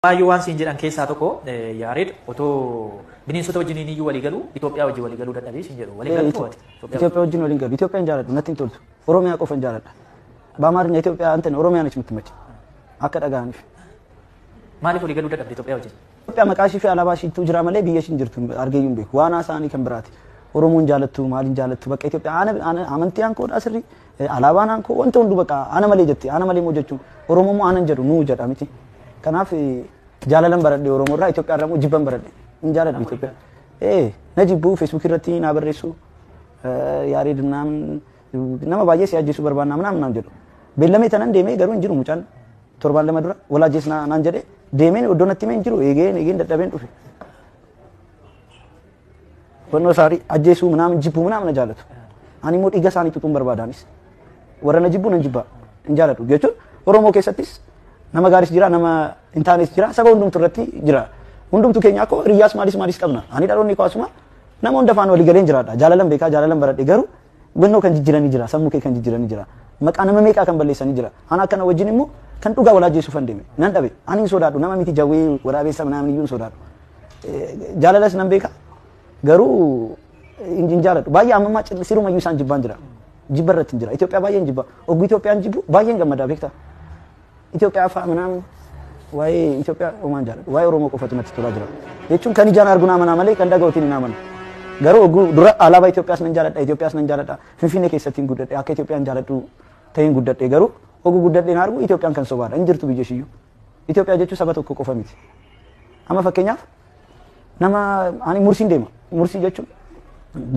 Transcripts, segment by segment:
Baay'ee waan siin jedhan keessaa tokko Yaareed otoo bineensota wajjin inni iyyuu walii galu Itoophiyaa wajjin walii galuu dadhabee siin jedhu walii galu mo'ate. Itoophiyaa wajjin waliin galu. Itoophiyaa hin jaaladhu natti hin toltu. Oromiyaa qofa hin jaaladha. Baamaarina Itoophiyaa antan Oromiyaa natti mitti machi. Akka dhaga'aniif. Maaliif walii galuu dadhabde Itoophiyaa wajjin? Itoophiyaa maqaa ishii fi alaabaa ishiitu jira malee biyya ishiin jirtu argee hin beeku. Waan haasaanii kan biraati. Oromoon jaalattu maaliin jaalattu bakka Itoophiyaa amantii aankoodhaa sirrii Alaabaan aankoo wanta hundu baqa ana malee jetti ana malee moo jechuun Oromoo moo anan jedhu nuu jedha miti. Kanaaf jaalalan baradhe Oromoo irraa Itoophiyaa irraa moo jibban baradhe hin jaaladhamu Itoophiyaa. Ee na jibbuu feesbuukii irratti naa barreessu yaarii dunnaan nama baay'ee si ajjeesuu barbaannaa manaa manaan jedhu. Beellamee tanan deemee garuu hin jiru mucaan torbaan lama dura wal ajjees naan jedhee deemeen iddoo natti himee hin jiru eegeen eegeen dadhabeen dhufe. Hubannoo isaanii ajjeesuu minaamin jibbuu minaamin na jaallatu. Ani immoo dhiiga isaanii tutuun barbaadaanis. Warra na jibbuu nan jibbaa hin jaalladhu jechuun Oromoo keessattis nama gaaris jira nama hin taanes jira saba hundumtu irratti jira. Hundumtu keenya akkoo hiriyyaas maalis maalis qabna. Ani dhaloonni koo asuma nama hunda faana walii galeen jiraadha. Jaalalan beekaa jaalalan baradhe garuu Hubannoo kan jijjirani jira. Sammu kee kan jijjirani jira. Maqaa nama meeqaa kan balleessani jira. Ana akkana wajjin immoo kan dhugaa wal ajjeesuuf hin deeme. Nan dhabe. Ani hin sodaadhu. Nama miti jawwee waraabeessa namni iyyuu hin sodaadhu. Jaalalas nan beeka. Garuu hin jaaladhu. Baay'ee amma ammaa siruma iyyuu isaan jibbaan jira. Jibba irratti hin jira. Itoophiyaa baay'een jibba. Oggu Itoophiyaan jibbu baay'een gammadaa beektaa. Itoophiyaa fa'aa manaa waa'ee Itoophiyaa homaan jaalladha. Waa'ee Oromoo qofatu natti tolaa jira. Jechuun kan ijaan argu naa manaa malee kan dhaga'uutiin hin amanu. Garuu oguu dura alaabaa Itoophiyaas nan jaalladha, Itoophiyaas nan jaalladha. Finfinnee keessatti hin guddadhe, akka Itoophiyaan jaalladhu ta'een guddadhe garuu oguu guddadhe hin argu Itoophiyaan kan sobaadha. Hin jirtu biyya ishiyyuu. Itoophiyaa jechuun saba tokko qofa miti. Amma fakkeenyaaf Nama ani mursiin deema. Mursii jechuun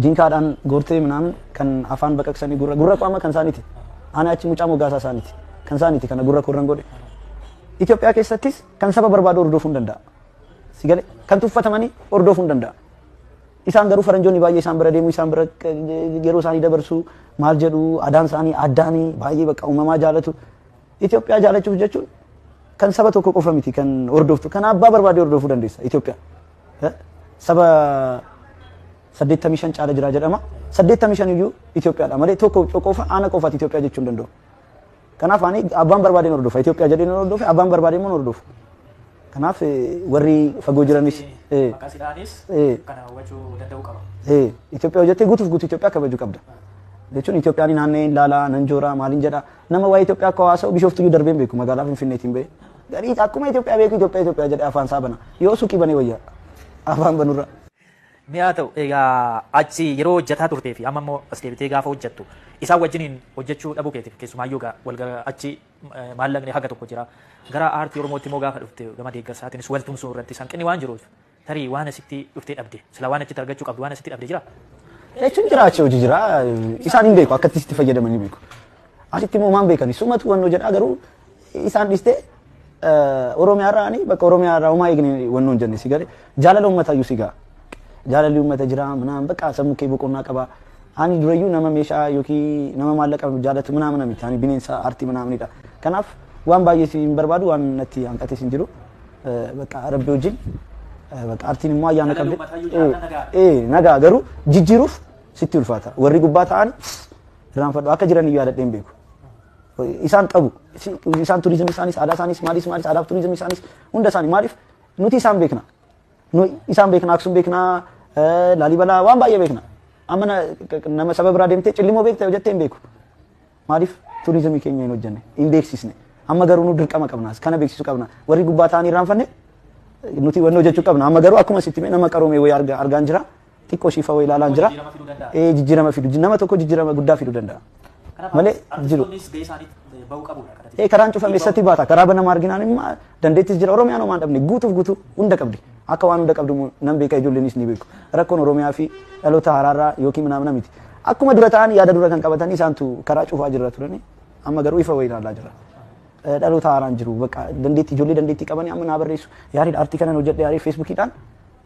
jinkaadhaan goortee minaamin kan afaan baqaqsanii gurra gurra koo amma kan isaaniiti. Ani achi mucaa mogaasaa isaaniiti. Kan isaaniiti kana gurra koo irraan godhe. Itoophiyaa keessattis kan saba barbaadu hordofuu hin danda'a. Si galee kan tuffatamanii hordofuu hin danda'a. Isaan garuu faranjoonni baay'ee isaan bira deemu isaan bira yeroo isaanii dabarsu maal jedhu adaan isaanii addaanii baay'ee bakka uumamaa jaalatu. Itoophiyaa jaalachuuf jechuun kan saba tokko qofa miti kan hordoftu kan abbaa barbaade hordofuu dandeessa Itoophiyaa. Eh? Saba 85 caala jira jedhama. 85 iyyuu Itoophiyaadha malee tokko qofa aana qofaati Itoophiyaa jechuu hin danda'u. Kanaaf ani abbaan barbaadeen hordofa Itoophiyaa jedheen hordofe abbaan barbaadeen immoo hordofu. Kanaaf eh, warri fagoo jiranis eh, Maqaa sidhaanis eh, kana hawwachuu danda'uu qaba. Eh, Itoophiyaa hojjettee guutuuf guutuu Itoophiyaa kabajuu qabda. Jechuun Itoophiyaan naannee ilaalaa, nan jooraa, maaliin jedhaa. Nama waa'ee Itoophiyaa akka haasa'u bishooftuu iyyuu darbeen beeku magaalaa Finfinneetiin ba'e. Garii akkuma Itoophiyaa beeku Itoophiyaa Itoophiyaa jedhee afaan isaa bana. Yoo suuqii banee wayya afaan banurra. Mi'a ta'u egaa achi yeroo hojjetaa turtee fi amma immoo as deebitee gaafa hojjettu isaan wajjiniin hojjechuu dhabuu keetiif keessumaayyuu egaa wal gara achi eh, maallaqni haga tokko jira. Gara aartii Oromootti immoo gaafa dhufte gama deeggarsaatiinis wal tumsuu irratti hanqinni waan jiruuf Tarii waan asitti dhuftee dhabde. Silaa waan achitti argachuu qabdu waan asitti dhabde jiraa? Jechuun jira achi hojii jira. Isaan hin beeku akkatti sitti fayyadaman hin beeku. Asitti immoo maan beekani sumatu wannoo jedhaa garuu isaan dhistee Oromiyaa irraa ani bakka Oromiyaa irraa homaa eegne wannoo hin jenne si galee jaalala uummataa iyyuu si ga'a. Jaalalli uummata jira minaan bakka sammuu kee boqonnaa qaba. Ani durayyuu nama meeshaa yookiin nama maallaqa jaalatu minaa mina miti ani bineensa aartii minaa minidha. Kanaaf waan baay'ee si hin barbaadu waan natti hanqatis hin jiru. Bakka rabbi wajjin bakka artiin immoo ayyaana Kana qabdi. yoo mataa yoo jiraatan nagaa. Ee nagaa garuu jijjiiruuf sitti ulfaata. Warri gubbaa ta'an irraanfadhu akka jiran iyyuu yaadadhee hin beeku. Isaan qabu. Isi- Isaan turizimii isaanis aadaa isaanis maalis maalis aadaaf turizimii isaanis hunda isaanii maaliif nuti isaan beekna. Nu isaan beekna Aksum beekna eh, Laalibalaa waan baay'ee beekna. Amma na- nama saba biraa deemtee cillimoo beekta jettee hin beeku. Maaliif turizimii keenya hin hojjenne, hin beeksisne. Amma garuu nu dirqama qabna, kana beeksisu qabna. Warri gubbaa ta'anii irraanfanne nuti wanni hojjechuu qabna. Amma garuu akkuma sitti nama qaroomee wayii arga, argaan jira. Xiqqoo shiifa wayii ilaalaan jira. Jijjiirama fiduu danda'a. Ee, jijjiirama fidu. Nama tokko jijjiirama guddaa fiduu danda'a. Kanaaf Malee jiru. artistoonnis gahee isaanii bahuu qabu. Ee, karaan cufame eessatti baata? Karaa banama arginaan immoo dandeettis jira. Oromiyaan homaa hin dhabne guutuuf guutuu hunda qabdi. Akka waan hunda qabdu immoo nan beeka ijoolleenis ni beeku. Rakkoon Oromiyaa fi dhaloota haraarraa yookiin minaamina miti. Akkuma dura ta'an yaada dura kan qabatanii isaantu karaa cufaa jirra turani. Amma garuu ifa wayii ilaalaa jirra. Eh, Dhaloota haaraan jiru. Bakka dandeettii ijoollee dandeettii qabanii amma naa barreessu. Yaariin aartii kanan hojjedhe yaariin feesbuukiidhaan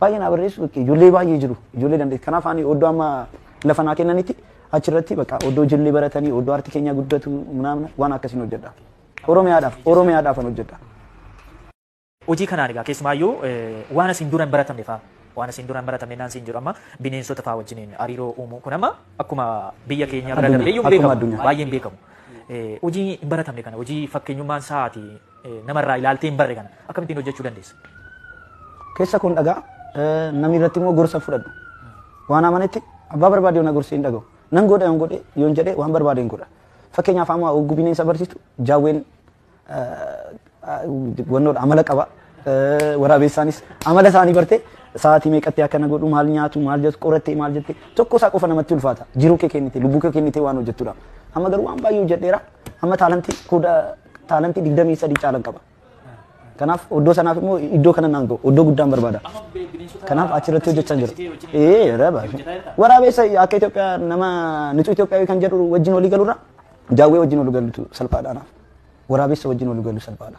baay'ee naa barreessu. Bakka Ijoollee baay'ee jiru. Ijoollee dandeettii. Kanaaf ani oddoo amma lafa naa kennanitti achirratti bakka oddoo ijoollee baratanii oddoo aartii keenyaa guddatu naamna waan akkasiin hojjedha. Oromiyaadhaaf Oromiyaadhaafan hojjedha. Hojii kanaan egaa keessumaayyuu waan asiin dura hin baratamne faa waan asiin dura hin baratamne naan siin jedhu amma bineensota faa wajjiniin hariiroo uumuu kun amma akkuma biyya keenya bira Addunyaa, darbeeyyuu hin akkuma beekamu addunyaa. baay'ee hin beekamu. Eh, Hojii hin baratamne kana hojii fakkeenyummaan sa'aati eh, namarraa ilaaltee hin barre kana akkamittiin hojjechuu dandeessa? Keessa kun dhagaa eh, namni irratti immoo gorsa fudhadhu. Waan amanetti abbaa barbaade na gorsi hin dhagahu. Nan godha yoon godhe yoon jedhe waan barbaade hin godha. Fakkeenyaaf amma oggu bineensa barsiistu jaawween wannoodha amala qaba. Waraabessaanis amala isaanii bartee sa'aatii meeqatti akkana godhu maal nyaatu maal jettu qorattee maal jette tokko isaa qofa namatti ulfaata jiruu kee kennite lubbuu kee kennite waan hojjettudha. Amma garuu waan baay'ee hojjedheera amma taalantii kooda taalantii digdamii sadii caalan qaba. Kanaaf oddoo sanaaf immoo iddoo kana naan ga'u oddoo guddaan barbaada. Kanaaf achirratti hojjechaa jira. Ee raba. Waraabessa akka Itoophiyaa nama nutu Itoophiyaa kan jedhu wajjin walii galurra Jaawwee wajjin wal galuutu salphaadha anaaf. Waraabessa wajjin wal galuu salphaadha.